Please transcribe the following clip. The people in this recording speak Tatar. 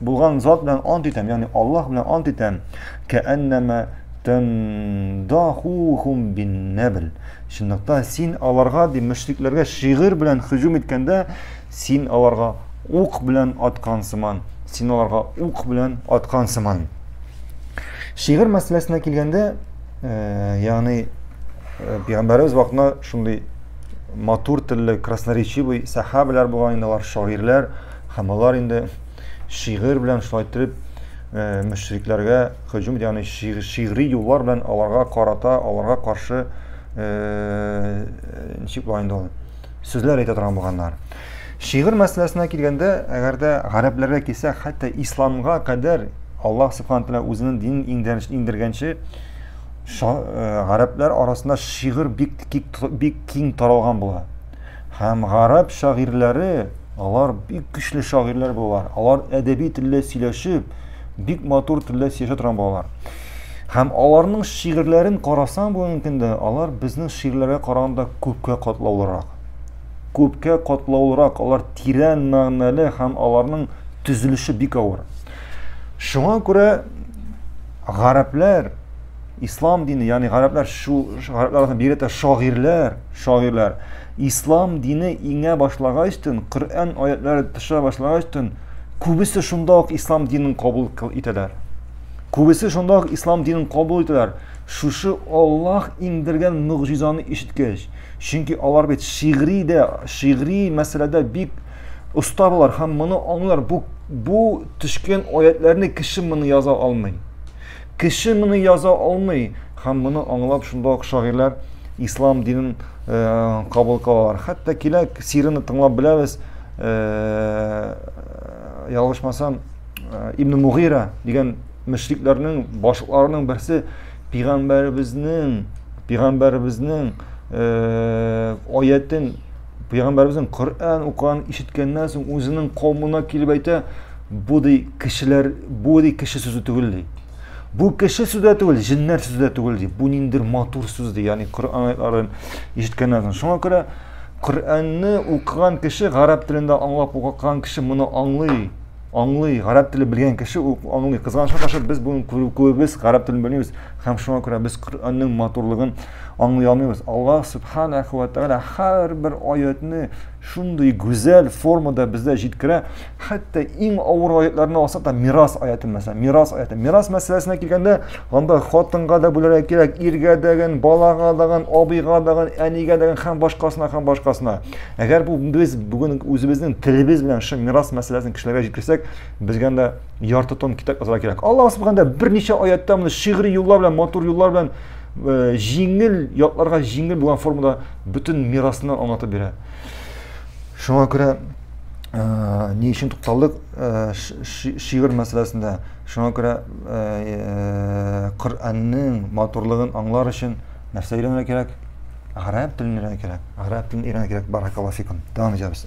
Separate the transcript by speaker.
Speaker 1: Булган зат белән ант итәм, ягъни Аллаһ белән ант итәм. Кәәннәмә тандахухум биннәбл. Чынлыкта син аларга, ди мөшрикләргә шигырь белән хизүм иткәндә, син аларга ук белән аткан сыман, син аларга ук белән аткан сыман. Шигырь мәсьәләсенә килгәндә, э, ягъни э, пәйгамбәребез вакытында шундый матур телле красноречивый сәхабәләр булган инде алар шагыйрьләр Һәм алар инде шигырь белән шулай итеп э, мөшрикләргә һөҗүм ягъни шигъри юллар белән аларга карата, аларга каршы э, ничек була инде ул сүзләр әйтә торган булганнар. Шигырь мәсьәләсенә килгәндә, әгәр дә гарәпләргә килсәк, хәтта исламга кадәр Аллаһ субхану тәгалә үзенең динен иңдергәнче э, гарәпләр арасында шигырь бик бик киң таралган була. Һәм гарәп шагыйрьләре, алар бик көчле шагыйрьләр булалар. Алар әдәби телдә сөйләшеп, бик матур телдә сөйләшә торган булалар. Һәм аларның шигырьләрен карасаң бүгенге көндә, алар безнең шигырьләргә караганда күпкә катлаулырак. Күпкә катлаулырак, алар тирән мәгънәле һәм аларның төзелеше бик авыр. Шуңа күрә гарәпләр Ислам дине, ягъни гарәпләр шу гарәпләргә бигрәк тә шагыйрьләр, шагыйрьләр ислам дине иңә башлагач төн, Коръән аятлары төшә башлагач төн, күбесе шунда ук ислам динен кабул итәләр. Күбесе шунда ук ислам динен кабул итәләр. Шушы Аллаһ иңдергән мөгъҗизаны ишеткәч, чөнки алар бит шигъри дә, шигъри мәсьәләдә бик оста булар һәм моны аңлар. Бу бу төшкән аятларны кеше моны яза алмый. Кеше моны яза алмый, һәм моны аңлап шунда ук шагыйрьләр ислам динен э, кабул кылалар. Хәтта киләк сирыны тыңлап беләбез. Э, ялгышмасам, э, Ибн Мугира дигән мөшрикләрнең башларының берсе пигамбәребезнең пигамбәребезнең э, аятен Пәйгамбәребезнең Коръән укыган ишеткәннән соң үзенең каумына килеп әйтә, бу ди кешеләр, бу ди кеше сүзе түгел ди. Бу кеше сүзе дә түгел, җиннәр сүзе дә түгел ди. Бу ниндер матур сүз ди, ягъни Коръән аятларын ишеткәннән соң. Шуңа күрә Коръәнне укыган кеше, гарәп телендә аңлап укыган кеше моны аңлый. Аңлый, гарәп теле белгән кеше ул аңлый. Кызганычка каршы без бүген күбебез гарәп телен белмибез һәм шуңа күрә без Коръәннең матурлыгын аңлый алмыйбыз. Аллаһ субханаху ва тааля һәрбер аятны шундый гүзәл формада бездә җиткерә. Хәтта иң авыр аятларны алсак та мирас аяты мәсәлән, мирас аяты. Мирас мәсьәләсенә килгәндә, анда хатынга да бүләргә кирәк, иргә дәген, балага дагын, абыйга дагын, әнигә дәген һәм башкасына һәм башкасына. Әгәр бу без бүген үзебезнең телебез белән шул мирас мәсьәләсен кешеләргә җиткерсәк, безгә дә ярты тон китап язарга кирәк. Аллаһ субханда берничә аятта моны шигъри юллар белән, матур юллар белән э, җиңел ятларга җиңел булган формада бөтен мирасны аңлатып бирә. Шуңа күрә э, ни өчен тукталдык э, шигырь мәсьәләсендә? Шуңа күрә э, Коръәннең матурлыгын аңлар өчен нәрсә өйрәнергә кирәк? Гарәп телен өйрәнә кирәк. Гарәп телен өйрәнә кирәк. Баракаллаһу фикум. Дәвам итәбез.